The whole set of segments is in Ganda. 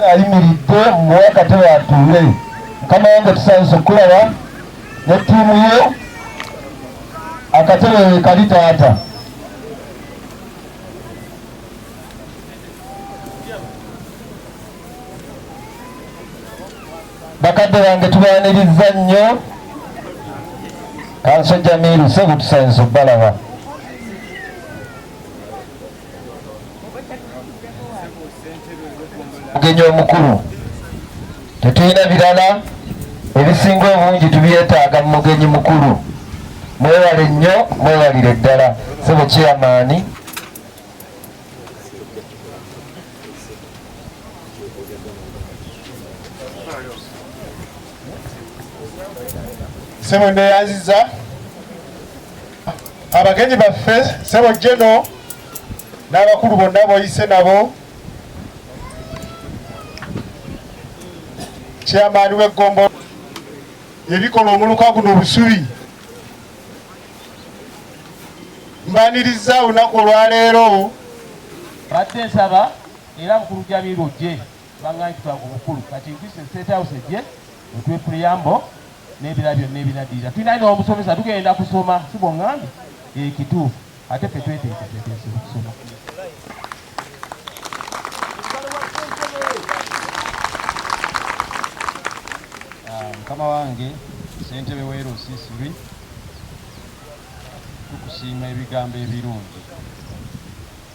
ayimiridde muwe akatebe atuule mukama wange tusanise okulaba ne ttiimu ye akatebe wekali taata bakadde bange tubaniriza nnyo kanso jamiru sebutusanyiza okubalaba omugenyi omukulu tetulina birala ebisinga obungi tubyetaaga mu mugenyi mukulu mwewale nnyo mwewalire ddala sebo kyeyamaani sebo neyanziza abagenyi baffe sebo jeno n'abakulu bonna boyise nabo kyamaani w'eggombo ebikola omuluka guno obusubi mbaniriza olunaku olwaleero badde nsaba era mukulu jamiru ojje Bang'aanyi tutaa ku bukulu kati ntise State House ejje etuwe preamble n'ebirala byonna ebinaddirira. Tulina ne omusomesa tugenda kusoma si bw'oŋŋambye eh, kituufu ate ffe tweteeketeeteese okusoma. Ah, mukama wange ssentebe w'e Rusisiri tukusiima ebigambo ebirungi.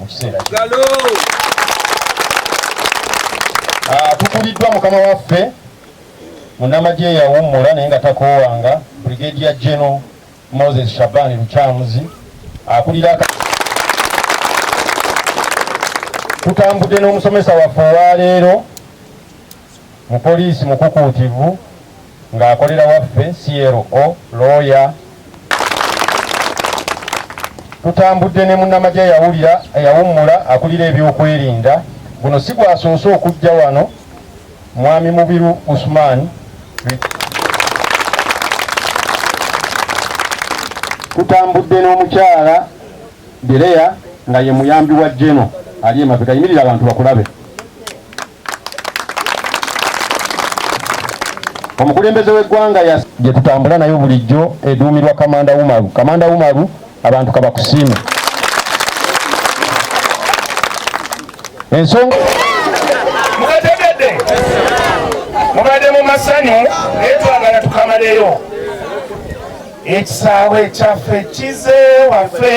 mu kiseera ah, tukuliddwa mukama waffe munamagye yawummula naye nga takoowanga brigadier general moses shabani lukyamuzi akulira tutambudde n'omusomesa waffe olwaleero Mupoliisi mukukuutivu ng'akolera waffe CLO, looya. Tutambudde ne munnamagye eyawulira eyawummula akulira ebyokwerinda. Guno si gwasoose okujja wano, Mwami Mubiru Usman. Tutambudde n'omukyala Dereya nga ye muyambi wa Geno ali emabega. Yimirira abantu bakulabe. omukulembeze w'eggwanga ya gye tutambula nayo bulijjo eduumirwa kamanda umaru kamanda umaru abantu kabakusiime ensonga mukategedde mubadde mu masanyu naye twagala tukamaleyo ekisaawe kyaffe kize waffe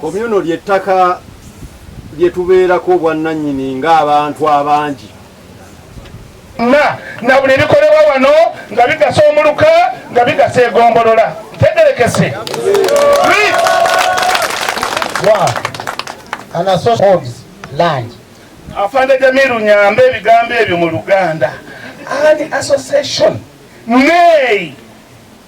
Komyuno ly'ettaka lye tubeerako obwannannyini ng'abantu abangi na na buli bikolebwa wano nga bigasa omuluka nga bigasa egombolola tegerekese afande jamiru nyamba ebigambo ebyo mu luganda ani association nay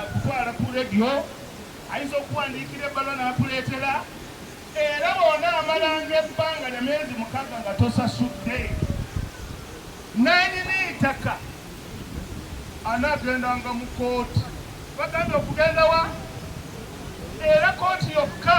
Akutwala ku leediyo ayinza okukuwandiikira ebbaluwa n'akuleetera era bw'onaamalanga ebbanga lya myezi mukaaga nga tosasudde nanyini ttaka anaagendanga mu kooti bagambye okugendawa era kooti yokka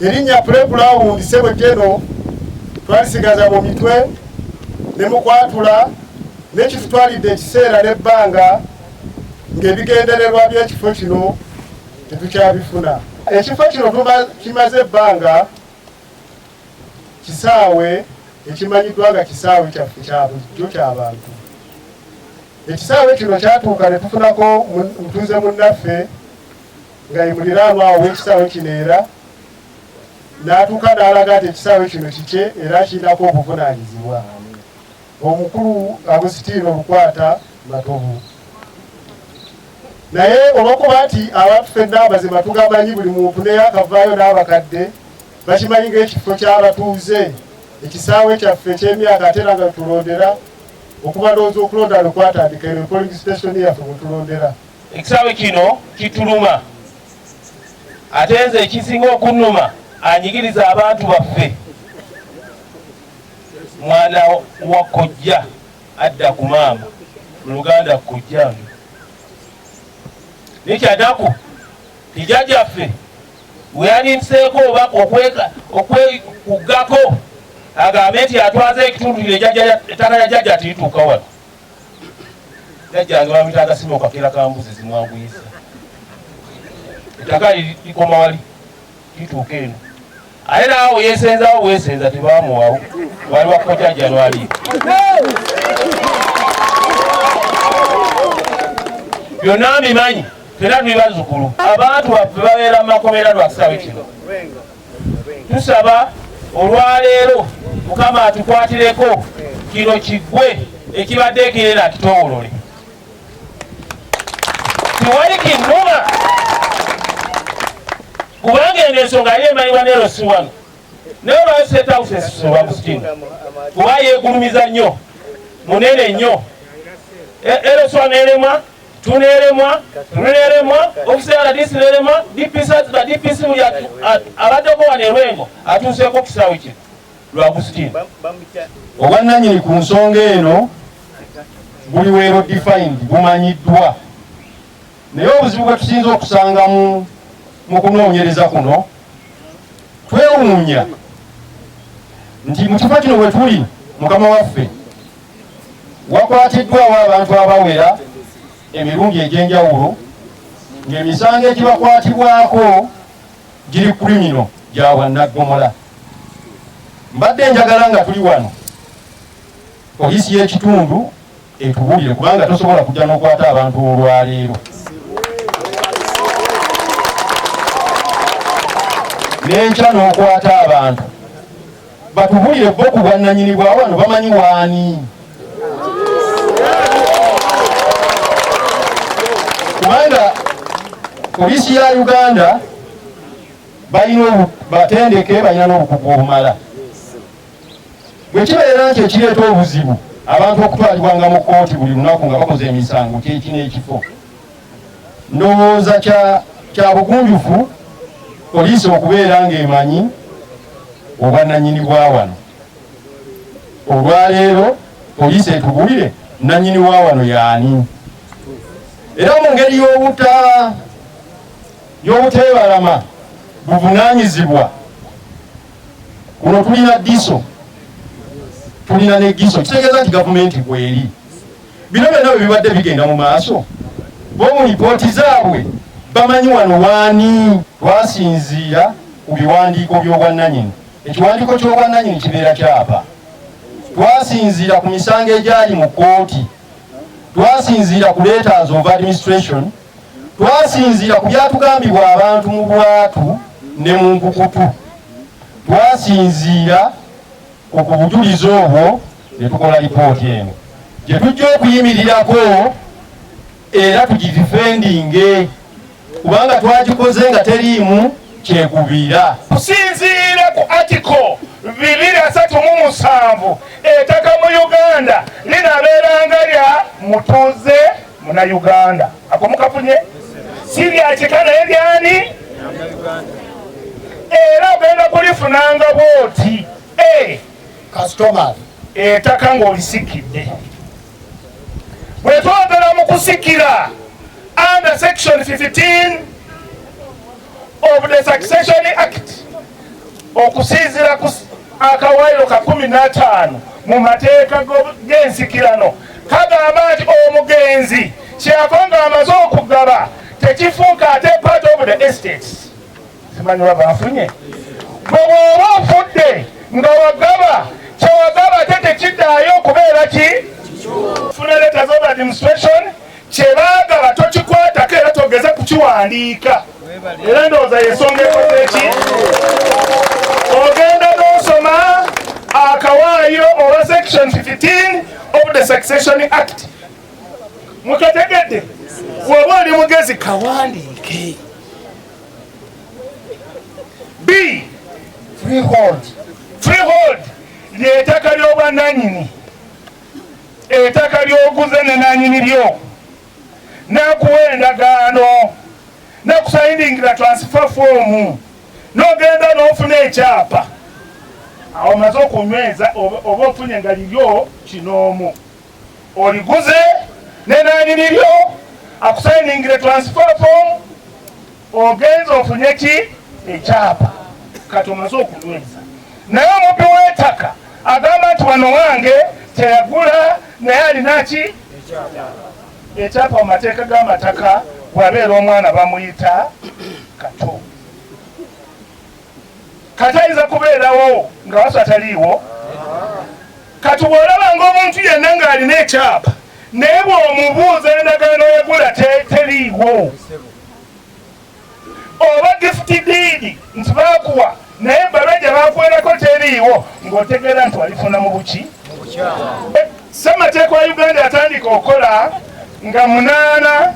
erinnya pulebulawundi sebwe geno twalisigaza mu mitwe ne mu kwatula n'ekitutwalidde ekiseera n'ebbanga ng'ebigendererwa by'ekifo kino tetukyabifuna ekifo kino kimaze ebbanga kisaawe ekimanyiddwa nga kisaawe kyaffe kya bulijjo ky'abantu ekisaawe kino kyatuuka ne tufunako mutuuze munnaffe nga ye muliraanwa awo w'ekisaawe kino era n'atuuka n'alaga nti ekisaawe kino kikye era kirinako obuvunaanyizibwa Obukulu nga busitiira obukwata Matovu. Naye olwokuba nti abantu fenna amazima tugamanyi, buli muntu neyakavaayo n'abakadde bakimanyi ng'ekifo ky'abatuuze, ekisaawe kyaffe eky'emyaka ate era nga wetulondera okuva ndowooza okulonda lwekwatandika eno polling station yaffe wetulondera. Ekisaawe kino kituluma ate nze ekisinga okunnuma anyigiriza abantu baffe Mwana wa kojja adda ku maama mu Luganda kkojjange. Naye kyanaku ti jajaffe weyaninseeko oba okwekuggako agambe nti atwaza ekitundu ettaka ya jajja tilituuka wano. Jajjange bamuyita agasima okakera ka mbuzi zimwanguyisa. Ettaka likomawa lituuka eno. Aye naawe yesenzawo bwesenza tebamuwawo wali wakukotya January. Byonna mbimanyi fena tuli bazzukulu abantu baffe babeera mu makomera lwa kisawe kino tusaba olwaleero mukama atukwatireko kino kigwe ekibadde ekirera kitowolole tewali kinnuma kubanga eno ensonga yali emanyibwa ne rosi wano naye olwayo setawusesisewagusitini kuba yegulumiza nnyo munene nnyo eroswa e, nelemwa tunelemwa tunelemwa ofisi ya radisi nelemwa dpc atula dpc muli abaddeko wano erwengo atuuseeko ku kisaawe kino Lwagustin obwannanyini ku nsonga eno buli weero defined bumanyiddwa naye obuzibu bwe tusinza okusanga mu kunoonyereza kuno twewuunya nti mu kifo kino we tuli mukama waffe wakwatiddwawo abantu abawera emirundi egy'enjawulo ng'emisango egibakwatibwako giri krimino gya bwannaggomola mbadde njagala nga tuli wano poliisi y'ekitundu etubulire kubanga tosobola kujja n'okwata abantu olwaleero n'enkya n'okwata abantu batubulire bo ku bwannanyini bwa wano bamanyi waani kubanga poliisi ya uganda balina batendeke balina n'obukugu obumala bwe kibeera nti ekireeta obuzibu abantu okutwalibwanga mu kkooti buli lunaku nga bakoze emisango kyekino ekifo ndowooza kya bugunjufu poliisi okubeera ng'emanyi obwananyini bwa wano olwaleero poliisi etubulire nanyini wa wano yaani era mu ngeri y'obutaba y'obuteebalama buvunaanyizibwa. Kuno tulina DISO, tulina ne GISO, kitegeeza nti gavumenti kweri. Bino byonna bwe bibadde bigenda mu maaso, bo mu lipooti zaabwe bamanyi wano waani twasinziira ku biwandiiko by'obwannanyini. Ekiwandiiko ky'obwannanyini kibeera kyapa. Twasinziira ku misango egyali mu kkooti, twasinziira ku letters of administration, Twasinziira ku byatugambibwa abantu mu bwatu ne mu nkukutu. Twasinziira ku bujulizi obwo ne tukola lipooti eno gye tujja okuyimirirako era tugidifendinge kubanga twagikoze nga teriimu kyekubiira. Okusinziira ku atiko bibiri asatu mu musanvu etaka mu Uganda linabeeranga lya mutuuze Muna Uganda ako mukafunye si bya kika naye byani era ogenda kulifunanga bwoti eh. kasitoma etaka eh, ng'olisikidde bwe twogera mu kusikira under section 15 of the Succession Act okusinzira ku akawaayiro ka kumi n'ataano mu mateeka g'ensikirano kagamba nti omugenzi kyeyava nga amaze okugaba tekifuuka ate part of the estates simanyi waba afunye bwe bwoba ofudde nga wagaba kyewagaba ate tekidaayo okubeera ki funa leta z'ob administration kyebaagala tokikwatako era togeze kukiwandiika era ndowooza yensonga ekozeeki ogenda n'osoma akawaayo owa section 15 of the succession act mukategedde waba oli mugezi kawandiike b freehold freehold lyetaka lyobwananyini Ettaka ly'oguze ne nanyini lyo n'akuwa endagaano n'akusayindingira transfer foomu n'ogenda n'ofuna ekyapa awo omaze okunyweza oba ofunye nga liryo kinoomu oliguze ne nanyini lyo akusayindingira transfer foomu Ogenze ofunye ki ekyapa kati omaze okunyweza naye omubbi w'etaka agamba nti wano wange teyagula naye alina ki ekyapa mu mateeka g'amataka bwabeera omwana bamuyita kato kati ayinza kubeerawo nga wasu ataliiwo kati bw'olaba ng'omuntu yenna ng'alina ekyapa naye bw'omubuuza endagaano yagula teriiwo oba gifuti diidi nti bakuwa naye ebbaluwa gye bakuwerako teriiwo ng'otegeera nti walifuna mu buki eh, ssemateeka wa uganda yatandika okukola nga munaana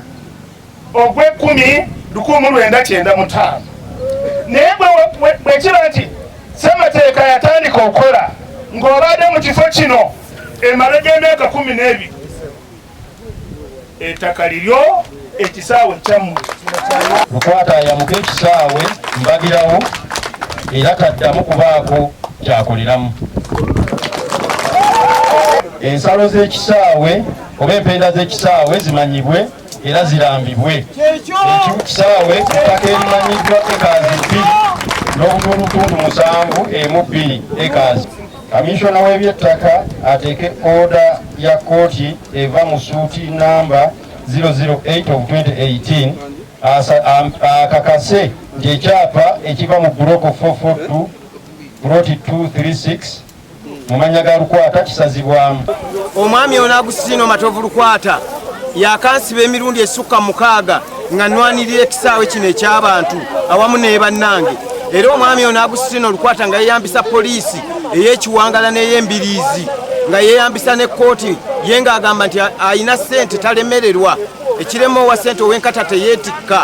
ogw'ekkumi lukumu lwenda kyenda mutaano naye bwekiba nti ssemateeka yatandika okukola ng'obaadde mu kifo kino emala gy'emyaka kumi n'ebiri etaka liryo ekisaawe kyammwe lukwata ayamuka ekisaawe mbagirawo era taddamu kubaako kyakoleramu ensalo z'ekisaawe oba empenda z'ekisaawe zimanyibwe era zirambibwe ekisaawe ettaka erimanyiddwa ekazi bbiri n'obutundutundu musanvu emu bbiri ekazi Kaminsona w'ebyettaka ateeke oda ya kkooti eva mu suuti namba 008 of 2018 akakase nti ekyapa ekiva mu buloko 442 buloti 236 mu mannya ga lukwata kisazibwamu omwami ono agusitino matovu lukwata yakansiba emirundi esukka mukaaga nga nwanirira ekisaawe kino eky'abantu awamu ne bannange era omwami ono agusitino olukwata nga yeyambisa poliisi ey'ekiwangala n'ey'embiriizi nga yeyambisa ne kkooti ye ng'agamba nti alina ssente talemererwa ekirema owa ssente ow'enkata teyeetikka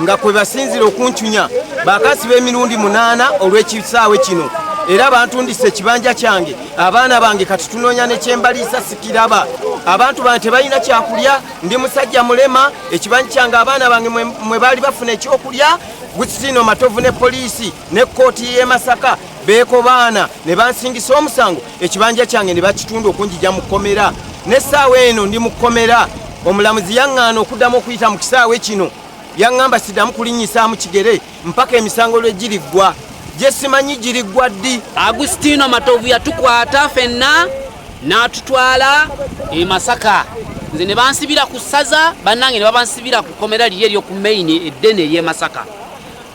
nga kwe basinzira okuncunya bakasi b'emirundi munaana olw'ekisaawe kino era bantundisa ekibanja kyange abaana bange kati tunoonya nekyembaliisa sikiraba abantu bange tebalina kyakulya ndi musajja mulema ekibanyi kyange abaana bange mwe baali bafuna ekyokulya gutsino matovu ne poliisi ne kkooti y'e masaka beekobaana ne bansingisa omusango ekibanja kyange ne bakitunda okunjija mu kkomera n'essaawa eno ndi mu kkomera omulamuzi yaŋŋaana okuddamu okuyita mu kisaawe kino yaŋŋamba siddamu kulinnyisaamu kigere mpaka emisango lwe giriggwa gye simanyi giriggwa ddi agustino matovu yatukwata fenna n'atutwala e masaka nze ne bansibira ku ssaza bannange ne babansibira ku kkomera liri eryo ku maini eddene ery'e masaka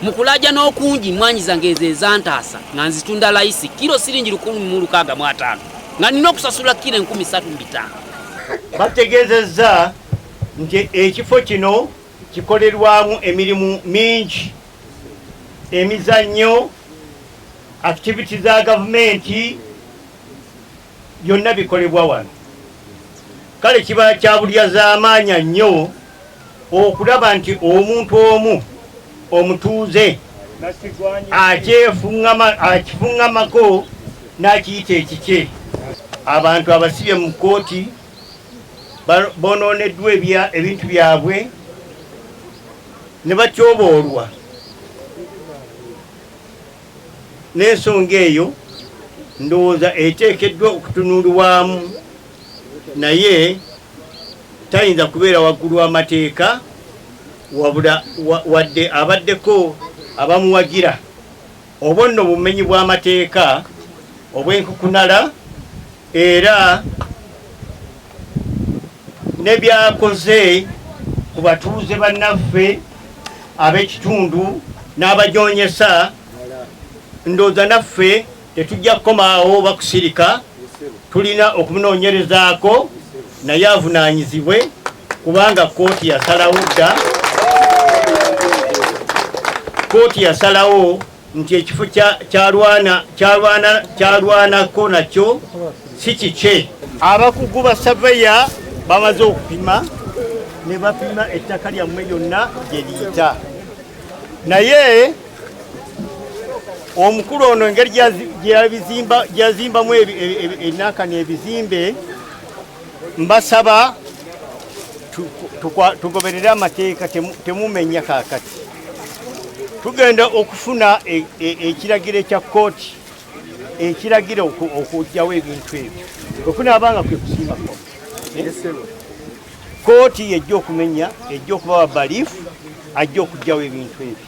mu kulaja n'okungi mwanyi zange ezo ezantaasa nga nzitunda layisi kiro siringi lukumi mu lukaaga mu ataano nga nina okusasula kiro enkumi satu mu bitaano bategeezezza nti ekifo kino Kikolerwamu emirimu mingi, emizannyo, akitiviti za gavumenti, byonna bikolebwa wano. Kale kiba kya bulyazaamaanya nnyo okulaba nti omuntu omu omutuuze akifuŋŋamako n'akiyita ekikye. Abantu abasibye mu kkooti. bonooneddwa ebintu byabwe ne batyoboolwa n'ensonga eyo ndowooza eteekeddwa okutunuulwamu naye tayinza kubeera waggulu w'amateeka wabula wadde abaddeko abamuwagira Obwo nno bumenyi bw'amateeka obw'enkukunala era ne byakoze ku batuuze bannaffe ab'ekitundu n'abajoonyesa ndooza naffe tetujja kukomaawo bakusirika tulina okunoonyerezaako naye avunaanyizibwe kubanga kkooti yasalawo dda kkooti yasalawo nti ekifo kyalwanako nakyo si kikye abakugu ba saveya bamaze okupima ne bapima ettaka lyammwe lyonna gye liyita naye omukulu ono engeri gyeyazimbamu enanka n'ebizimbe Mbasaba tugoberere amateeka temumenya kakati. Tugenda okufuna e, e, ekiragiro ekya kkooti ekiragira okujjawo ebintu ebyo okunaaba nga kwe kusiima kkooti yejja okumenya ejja okubawa balifu ajja okujjawo ebintu ebyo.